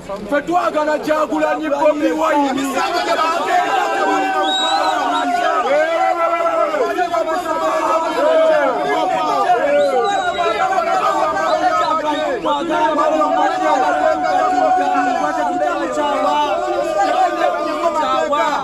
ffe twagala kyagulanyi bobi wayini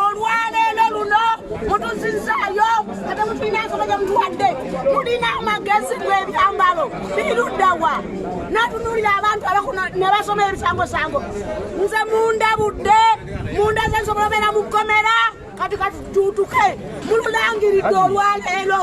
olwaleero luno mutuzizaayo ate mutulina ensolo gye mutuwadde mulina amagezi g'ebyambalo biruddawa natunulira abantu ne basoma ebisangosango nze munda budde munda ze nsobola obeera mu kkomera kati katutuutuke mululangiridde olwaleero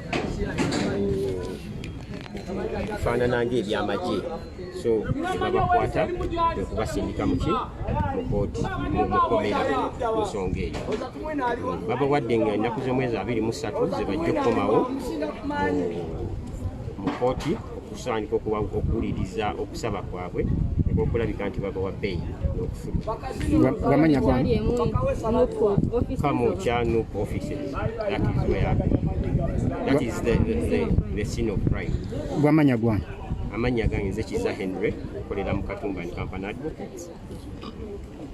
bifaanana ng'ebyamagye so babakwata kwekubasindika muki mukooti mukomera ensonga eyo babawadde nga ennaku z'omwezi abiri mu ssatu zebajja okukomawo mu kooti okusaanika okuba okuwuliriza okusaba kwabwe okulabika nti babawa bbeeyi n'okufukamukyanup offices that is where that is the, the, the, the scene of crime bwamanya gwange amannya gange nze kiza henry okolera mu katumba ni kampani advocates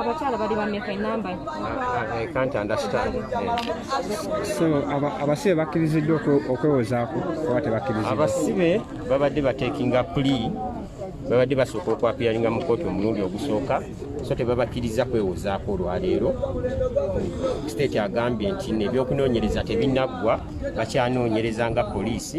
abakyala bali bameka enamba so abasibe bakkiriziddwa okwewozaako oba tebakkiriza abasibe babadde batekinga puli babadde basooka okwapiyalinga mu kooti omulundi ogusooka so tebabakkiriza kwewozaako olwaleero state agambye nti nebyokunoonyereza tebinaggwa bakyanoonyereza nga poliisi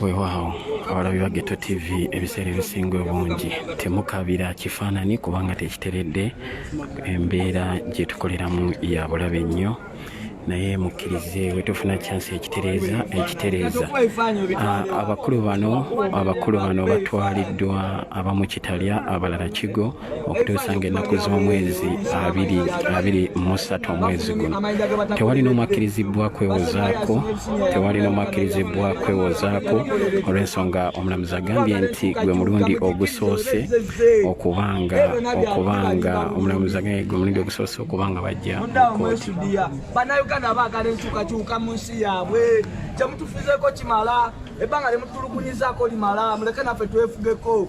weewaawo abalabi ba geto tv ebiseera ebisinga obungi temukabira kifaanani kubanga tekiteredde embeera gye tukoleramu ya bulabe nnyo naye mukkirize wetufuna kyansi ekitereeza ekitereeza ah, abakulu bano abakulu bano batwaliddwa abamu kitalya abalala kigo okutuusa ng'ennaku z'omwezi abiri abiri mu ssatu omwezi guno tewali n'omu akkirizibbwa kwewozaako tewali n'omu akkirizibbwa kwewozaako olw'ensonga omulamuzi agambye nti gwe mulundi ogusoose okubanga okubanga omulamuzi agambye gwe mulundi ogusoose okubanga bajja mukooti bannayuganda baagala enkyukakyuka mu nsi yaabwe kyemutufizeeko kimala ebbanga lyemutulugunyizako limala muleke naffe twefugeko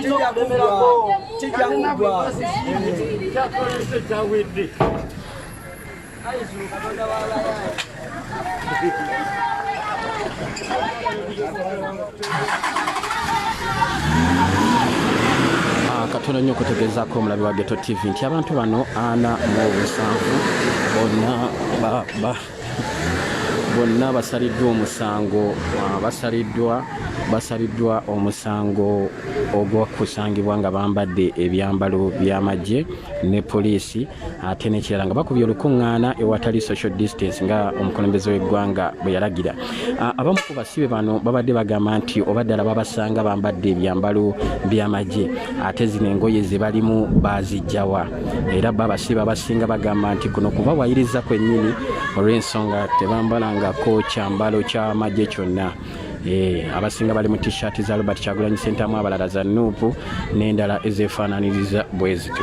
kijja kuggwa kijja kuggwa kyakolese kyawedde ah, katono nnyo okutegeezaako omulabi wa geto tv nti abantu bano ana mu obusanvu bonna bonna basaliddwa omusango basaliddwa basaliddwa omusango ogwokusangibwa nga bambadde ebyambalo by'amagye ne poliisi ate nekirala nga bakubye olukuŋŋaana ewatali social distance nga omukulembeze w'eggwanga bwe yalagira Ah, abamu ku basibe bano babadde bagamba nti oba ddala babasanga bambadde ebyambalo by'amagye ate zino engoye ze balimu bazijjawa era bo abasibe abasinga bagamba nti kuno kuba wayiriza kwennyini olw'ensonga tebambalangako kyambalo ky'amagye kyonna Eh, abasinga bali mu t-shirt za robert kyagulanyi sentamu abalala za nuupu n'endala ezefaananiriza bwezityo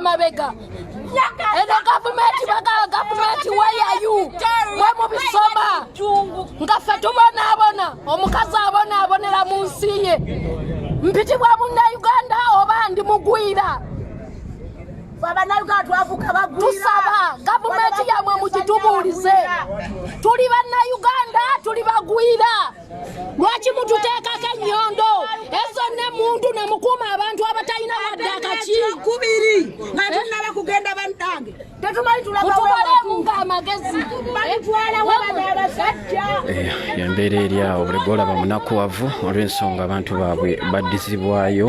mabega eno gavumenti bagala gavumenti weyayu mwe mubisoma nga ffe tubonaabona omukazi abonaabonera mu nsi ye mpitibwa munnauganda oba ndi mugwira tusaba gavumenti yamwe mugitubuulize tuli bannayuganda tuli bagwira lwaki mututeekako ennyondo ezo ne muntu ne mukuuma abantu abatalina wadde akaki kubiri nga tunaba kugenda bannange tetumalitubalemu ng'amagezi embeera eri awo buli gwolaba munakuwavu olw'ensonga abantu baabwe baddizibwayo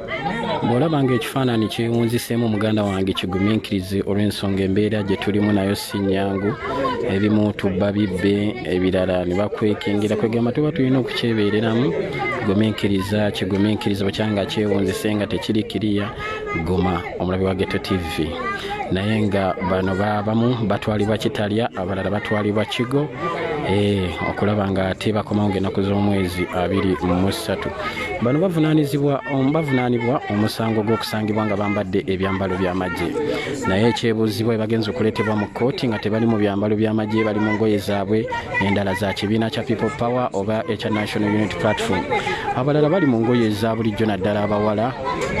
bw'olaba ng'ekifaananyi kyewunziseemu muganda wange kigumiikirize olw'ensonga embeera gye tulimu nayo si nnyangu ebimu tubba bibbe ebirala ne bakwekengera kwegamba tuba tulina okukyebeereramu gumiikiriza kigumiikiriza bukyanga kyewunzise nga tekiri kiriya guma omulabi wa geto tv naye nga bano babamu batwalibwa kitalya abalala batwalibwa kigo eh, okulaba nga tebakomawo ngaenaku z'omwezi abiri mu ssatu bano bavunanizibwa bavunaanibwa omusango gw'okusangibwa nga bambadde ebyambalo by'amagye naye ekyebuuzibwa ebagenza okuleetebwa mu kkooti nga tebali mu byambalo by'amagye bali mu ngoye zaabwe endala za kibiina kya people power oba ekya national unit platform abalala bali mu ngoye eza bulijjo naddala abawala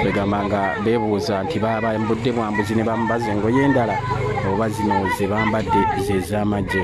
begamba nga beebuuza nti babambudde bwambuzi ne bambaza engoye endala oba zino ze bambadde zez'amagye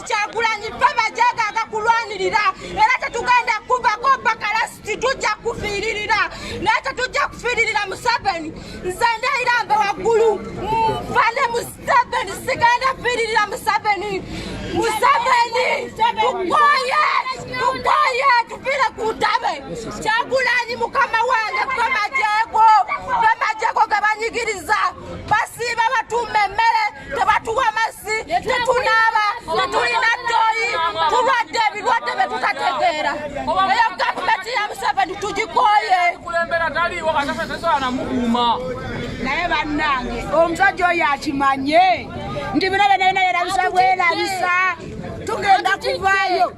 kyagulanyi ffe bajagaga kulwanirira era tetugenda kuvako bakalasiti tujja kufiiririra naye tetujja kufiiririra museveni nze ndeyira mbe waggulu nfane museveni sigenda fiiririra museveni museveni tukoye tukoye tufire ku ntabe kyagulanyi mukama wange ffe majego ffe majego gabanyigiriza basiiba batuuma emmere tebatuwa mazzi tetunaaba tetulina ddoyi tulwadde ebirwadde bye tutategeera eyo gavumenti ya museveni tugikoye naye bannange omusajja oyo akimanye nti bino byona byona yerabisa bwerabisa tugenda kuvaayo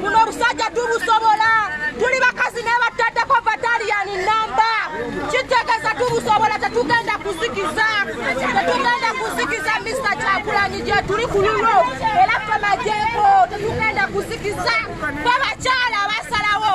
buno obusajja tubusobola tuli bakazi nebattaddeko bataliyani namba kitegeeza tubusobola tetugenda kuzikiza tetugenda kuzikiza mista kyakulanyi gyetuli ku lulo era femajeeko tetugenda kuzikiza fe bakyala basalawo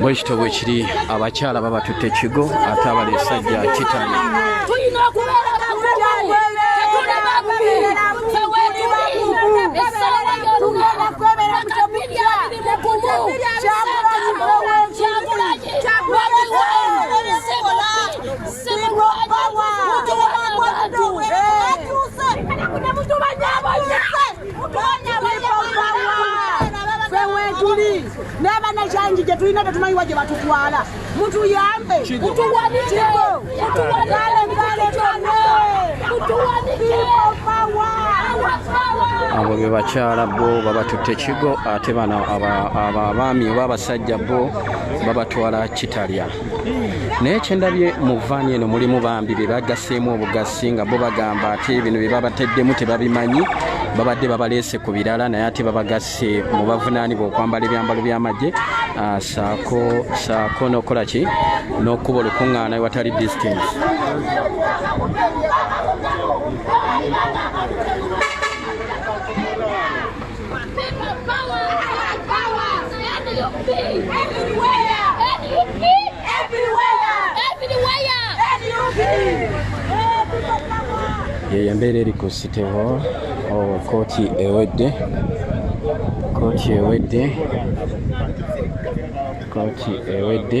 bwekityo bwekiri abakyala babatutte ekigo ate abali esajja kitani tuli n'abaana kyangi gye tulina tetumanyiwa gye batutwala mutuyambe mutuwanikeko abo be bakyala bo babatutte kigo ate bano abaami oba abasajja bo babatwala kitalya naye kyendabye mu vaani eno mulimu bambi be bagaseemu obugasi singa bo bagamba ate bino bye babateddemu tebabimanyi babadde babaleese ku birala naye ate babagasse mu bavunaanibwa okwambala ebyambalo by'amagye ah, saako saako n'okukola ki n'okukuba olukuŋŋaana ewatali distance yeyo embeera eri ku siteho oh, kooti ewedde kooti ewedde kooti ewedde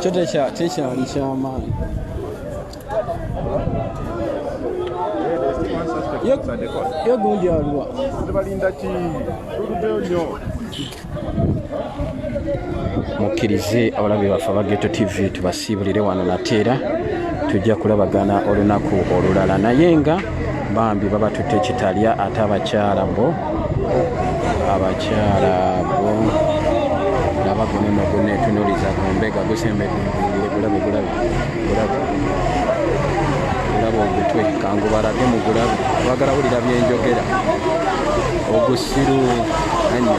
kyo tekyali kyamaanyi ye gundi aliwa mukkirize abalabi baffe aba geto tv tubasiibulire wano nateera tujja kulabagana olunaku olulala naye nga bambi babatutte kitalya ate abakyala bo abakyala bo laba guneno gunetunuliza gumbega gusembedde gulabe gulabe gulabe gulabe ogutwe kangubalage mu gulabe bagala wulira byenjogera ogusiru anyo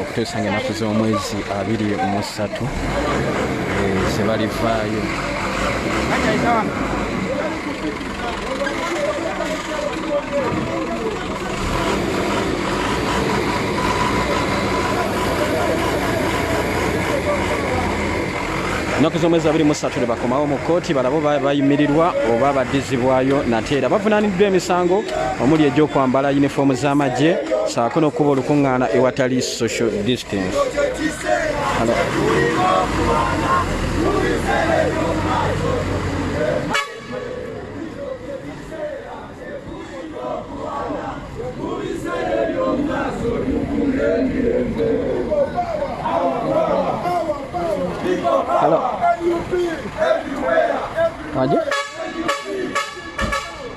okutuusa nga enaku z'omwezi abiri mu ssatu zebalivaayo ennaku z'omwezi abiri mu ssatu lwe bakomawo mu kkooti balabo bayimirirwa oba baddizibwayo nate era bavunaaniddwa emisango omuli egyokwambala yunifoomu z'amagye saako n'okukuba olukuŋŋaana ewatali social distance Hello. Everywhere. Everywhere.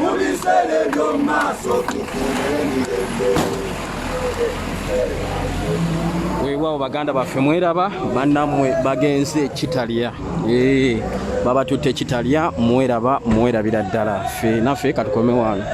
mu biseera eby'omu maaso tufuna emirembe weewaawo baganda baffe mweraba banammwe bagenze ekitalya babatutte ekitalya mweraba mwerabira ddala fe naffe katukomewaano